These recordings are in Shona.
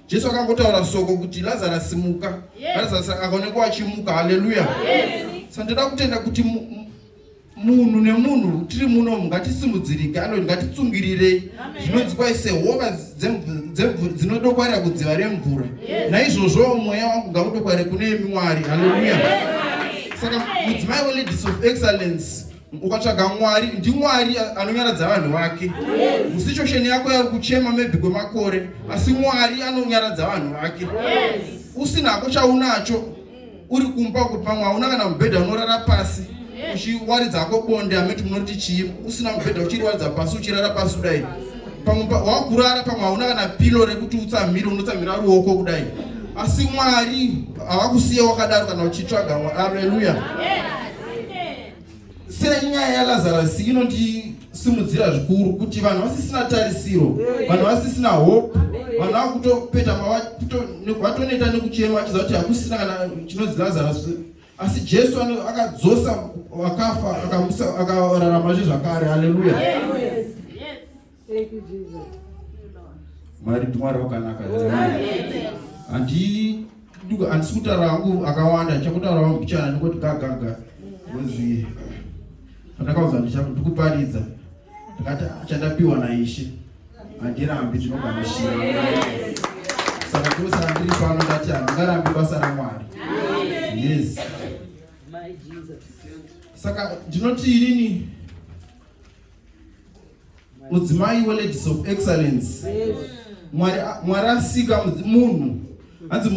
Jesu akangotaura soko kuti Lazarus simuka. Yes. Lazarus akaonekwa achimuka. Hallelujah. Yes. Sandida kutenda kuti munhu nemunhu tiri muno ngatisimudzirike anoti ngatitsungirirei zvinonzi kwaise hova dzinodokwarira kudziva remvura naizvozvowo mweya wangu ngaudokwarire kune imi mwari haleluya saka mudzimai weladis of excellence ukatsvaga mwari ndimwari anonyaradza vanhu vake musituation yako yari kuchema maybe kwemakore asi mwari anonyaradza vanhu vake usinako chaunacho uri kumba kuti pamwe hauna kana mubhedha unorara pasi uchiwaridza ako bonde ameti munoti chii usina mubhedha uchiriwaridza pasi uchirara pasi kudai pamwe wakurara pamwe hauna kana pilo rekuti utsamhire unotsamhira ruoko kudai asi mwari havakusiye wakadaro kana uchitsvaga mwari aleluya yeah. senyaya yalazarasi inondisimudzira zvikuru kuti vanhu vasisina tarisiro vanhu vasisina hope vanhu vakutopeta vatoneta nekuchema vachiza kuti hakusina kana chinonzi lazarasi asi jesu akadzosa vakafa akararama zve zvakare haleluya Thank you Jesus. Mwari ndimwari wakanaka. Handi handisi kutaura hangu akawanda chakutaura wangu mbichana ndikoti gagaga kunzi pandakauza ndikuparidza ndakati ah, chandapiwa naishe handirambi ndinogamushira saka ndosara ndiri pano ndati handingarambi basa ramwari yes saka ndinoti inini mudzimai weladies of excellence mwari asika munhu hanzi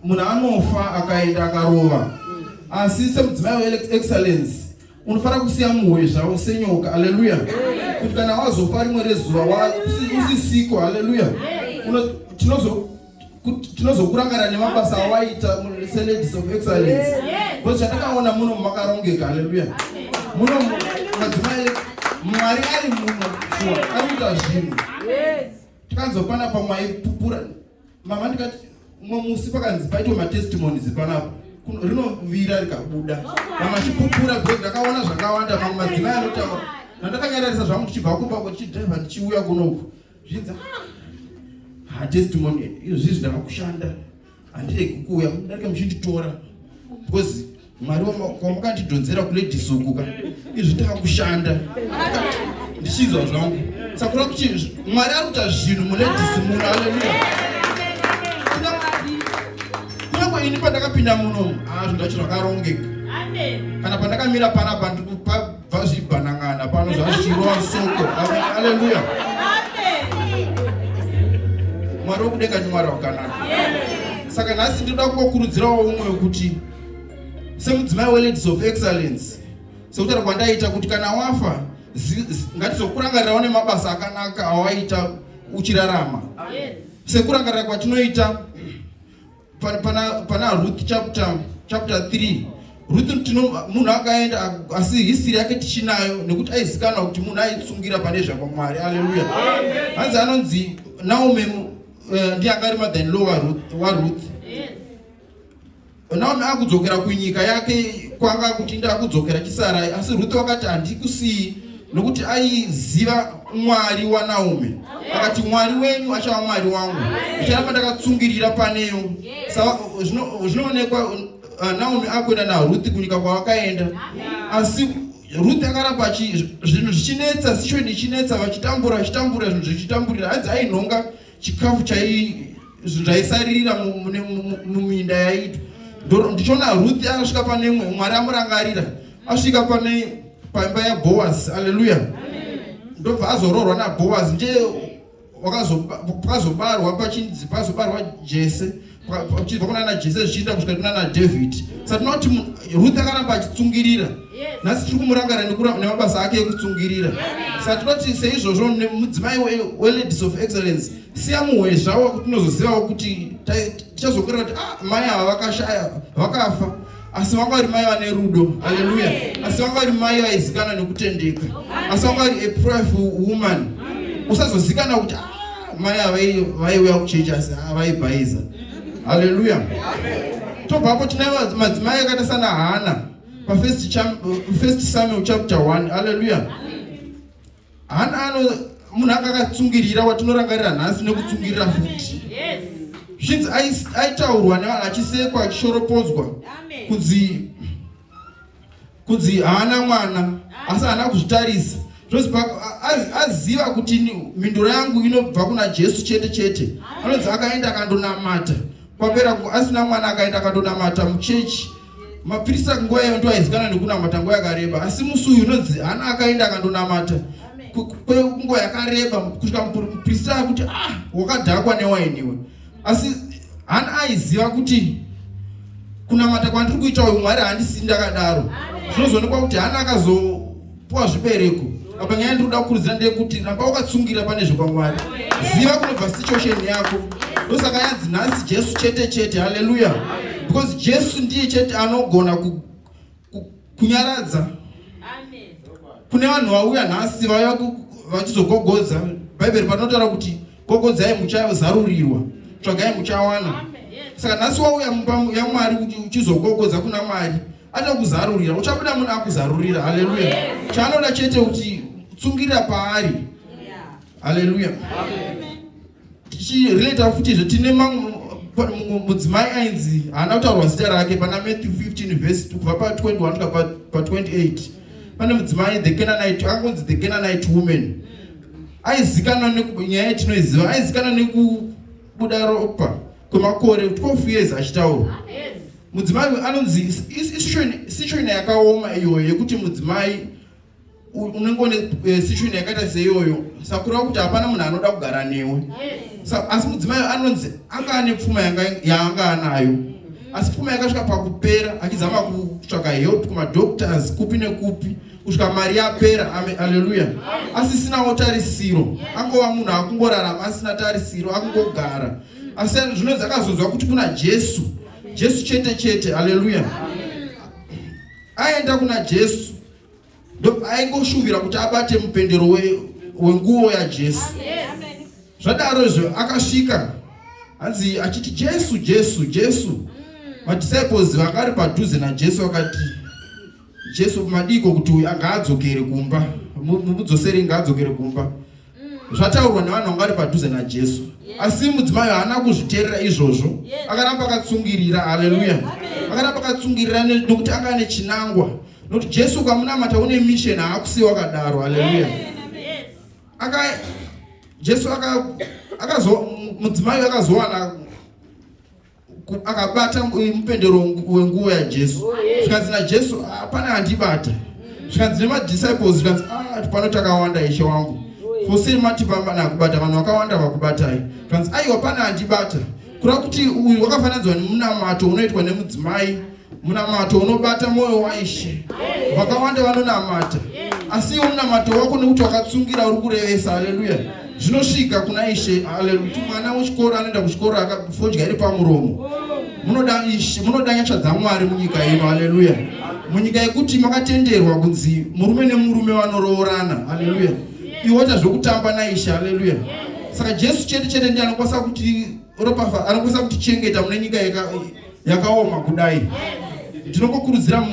munhu anofa akaenda akarova asi semudzimai weexcellence unofanira kusiya muhoyo zvavo senyoka aleluya kuti kana wazofa rimwe rezuva usisiko aleluya tinozo tinozokurangarira nemabasa awaita seladies of excellence bcause chatakaona muno makarongeka haleluya muno madzimai mwari ari muno shuwa ari kuita zvinhu tikanzopana pamwe aipupura mama ndikati mwe musi pakanzi paitwa matestimonies panapo rinovira rikabuda mama achipupura bcause ndakaona zvakawanda mamwe madzimai anotaura nandakanyararisa zvangu ndichibva kumba kwechidraivha ndichiuya kunoku zvinzi ah, ha testimonial izvozvi zvindava kushanda handiregi kuuya mudarika muchinditora because mwari kwamakatidhonzera kuladies uku ka izvi tava kushanda ndichizwa zvangu sakura kuti mwari ari kuita zvinhu muladies muno aleluya kunyange ini pandakapinda muno hazvo ah, ndacho zvakarongeka kana pandakamira panapa vazvibhanang'ana pano zvazvirova soko aleluya mwari wokudenga ndi mwari wakanaka saka nhasi ndinoda kungokurudzirawo umwe wekuti semudzimai weladies of excellence sekutaura kwandaita kuti kana wafa ngatizokurangarirawo nemabasa akanaka awaita uchirarama sekurangarira kwatinoita pana, pana ruth chapter, chapter 3 ruth tino munhu akaenda asi hisiri yake tichinayo nekuti aizikanwa kuti munhu aitsungira pane zvakwamwari aleluya hanzi anonzi naomi uh, eh, ndiye anga ari mathan law waruth naomi akudzokera kunyika yake kwanga kuti ndakudzokera chisarai asi ruth wakati handikusiyi nokuti aiziva mwari wanaomi akati mwari wenyu achava mwari wangu ndicharamba ndakatsungirira paneyo zvinoonekwa uh, naomi akuenda naruthi kunyika kwavakaenda asi ruth akaramba zvinhu zvichinetsa situation ichinetsa vachitambura vachitambura zvinhu zvichitamburira hanzi ainhonga chikafu zvaisarira muminda yaitwa ndoro ndichiona ruth akasvika pane mwe mwari amurangarira asvika pane paimba yaboas aleluya ndobva azoroorwa naboas ndiye pakazobarwa pachinzi pazobarwa jese uchibva kuna na jese zvichiinda kusvika kuna na david sa tinoti ruth akaramba achitsungirira nhasi tiri kumurangara nemabasa ake ekutsungirira sa tinoti seizvozvo mudzimai weladies of excellence siya muhwezvawo kuti unozozivawo kuti tichazokurira kuti ah mai ava vakashaya vakafa asi vanga vari mai vane rudo haleluya asi vanga vari mai vaizikana nekutendeka asi vanga vari a prayerful woman usazozikana kuti ah, mai avai vaiuya kuchechi asi avaibhaiza haleluya tobvapo tine madzimai akaita sana hana pafirst samuel chapter 1 haleluya Hana ano munhu anga akatsungirira watinorangarira nhasi nekutsungirira futi zvinzi aitaurwa nevanhu achisekwa achishoropodzwa kunzi kunzi haana mwana asi haana kuzvitarisa zvozi aziva kuti mhinduro yangu inobva kuna jesu chete chete anonzi akaenda akandonamata kwapera asina mwana akaenda akandonamata muchechi Mapirisa nguva iyoyo ndiwo aizikanwa nekunamata nguva yakareba, asi musi uyu unonzi Hana akaenda akandonamata kwenguva yakareba kusvika muprista akuti ah wakadhakwa newaini iwe asi Hana aiziva kuti kunamata kwandiri kuita uyu Mwari handisini ndakadaro. Zvinozoonekwa kuti Hana akazo Puwa zvibereko. Apa nyaya ndiri kuda kukurudzira ndeyekuti ramba wakatsungira pane zvekwamwari. Ziva kunobva situation yako. Ndosaka yanzi nhasi Jesu chete chete. Haleluya. Because Jesu ndiye chete anogona ku, ku, kunyaradza. Amen. Kune vanhu vauya nhasi vaya vachizogogodza. Bhaibheri panotaura kuti gogodzai muchazarurirwa. Tsvagai muchawana. Saka nhasi wauya mumba yaMwari kuti uchizogogodza kuna Mwari. Anokuzarurira, uchabuda munhu akuzarurira. Haleluya! Yes. Chaanoda chete kuti tsungirira paari. Yeah. Haleluya! Tichirelata futizve tine mudzimai ainzi haana kutaurwa zita rake pana Matthew 15 vhesi kubva pa 21 kusvika pa 28 pane mudzimai the Canaanite akanzi the Canaanite woman aizikanwa nyaya yatinoiziva aizikanwa nekubuda ropa kwemakore 12 years achitaura Mudzimai uyu anonzi situation yakaoma iyoyo yekuti mudzimai unenge une eh, situation yakaita seiyoyo sakura kuti hapana munhu anoda kugara newe asi mudzimai anonzi anga ane pfuma yaanga anayo asi pfuma yakasvika pakupera achizama kutsvaka help kumadoctors kupi nekupi kusvika mari yapera aleluya asisinawo tarisiro angova munhu akungorarama asina tarisiro akungogara asi zvino dzakazonzwa kuti kuna jesu Jesu chete chete. Haleluya. Aenda kuna Jesu aingoshuvira kuti abate mupendero wenguo we yajesu zvadaro izvo akasvika hanzi achiti jesu jesu jesu mm. madisciples vakari padhuze najesu vakati jesu madiko kuti uyu ngaadzokere kumba mudzoseri ngaadzokere kumba zvataurwa nevanhu vanga vari padhuze najesu asi mudzimai haana kuzviteerera izvozvo akaramba akatsungirira haleluya akaramba akatsungirira nokuti anga ane chinangwa nokuti jesu ukamunamata une misheni haakusiyi wakadaro haleluya aka jesu akazo mudzimai akazowana akabata mupendero wenguva yajesu oh, zvikanzi najesu ah, pane andibata zvikanzi nemadisciples zvikanzi ah, pano takawanda ishe wangu oh, fose matipamba nakubata vanhu vakawanda vakubatai zvikanzi aiwa pane andibata kureva kuti uyu wakafananidzwa nemunamato unoitwa nemudzimai Munamato unobata mwoyo waIshe. Vakawanda vanonamata. Asi iwo munamato wako nekuti wakatsungira uri kurevesa. Haleluya. Zvinosvika kuna Ishe. Haleluya. Kuti mwana wechikoro anoenda kuchikoro akafodya iri pamuromo. Munoda Ishe, munoda nyasha dzaMwari munyika ino. Haleluya. Munyika yekuti makatenderwa kunzi murume nemurume vanoroorana. Haleluya. Iwe waita zvekutamba naIshe. Haleluya. Saka Jesu chete chete ndiye anokwanisa kuti ropafa anokwanisa kutichengeta mune nyika yeka yakaoma kudai ndinokukurudzira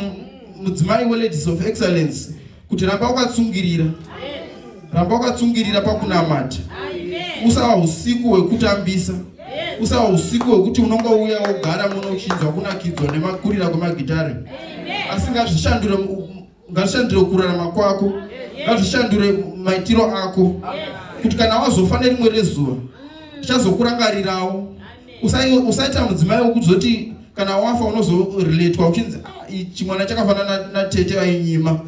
mudzimai weladies of excellence kuti ramba wakatsungirira ramba wakatsungirira pakunamata usava usiku hwekutambisa usava usiku hwekuti unonga uya wogara muno uchinzwa kunakidzwa nemakurira kwemagitare asingazvishandure Ngazvishandure kurarama kwako, ngazvishandure maitiro ako, kuti kana wazofa nerimwe rezuva tichazokurangarirawo. Usaita mudzimai wokuzoti kana wafa unozorelatwa uchinzi ah, ichi mwana chakafanana natete vainyima,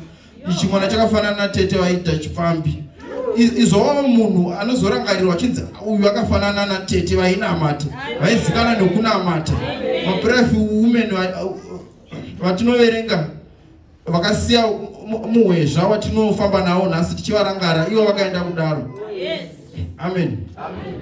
ichi mwana chakafanana natete vaida chipfambi izovawo munhu anozorangarirwa achinzi uyu akafanana natete vainamata vaizikana nokunamata maprefi women vatinoverenga vakasiya muhwezva watinofamba nawo nhasi tichivarangara ivo vakaenda kudaro amen, amen.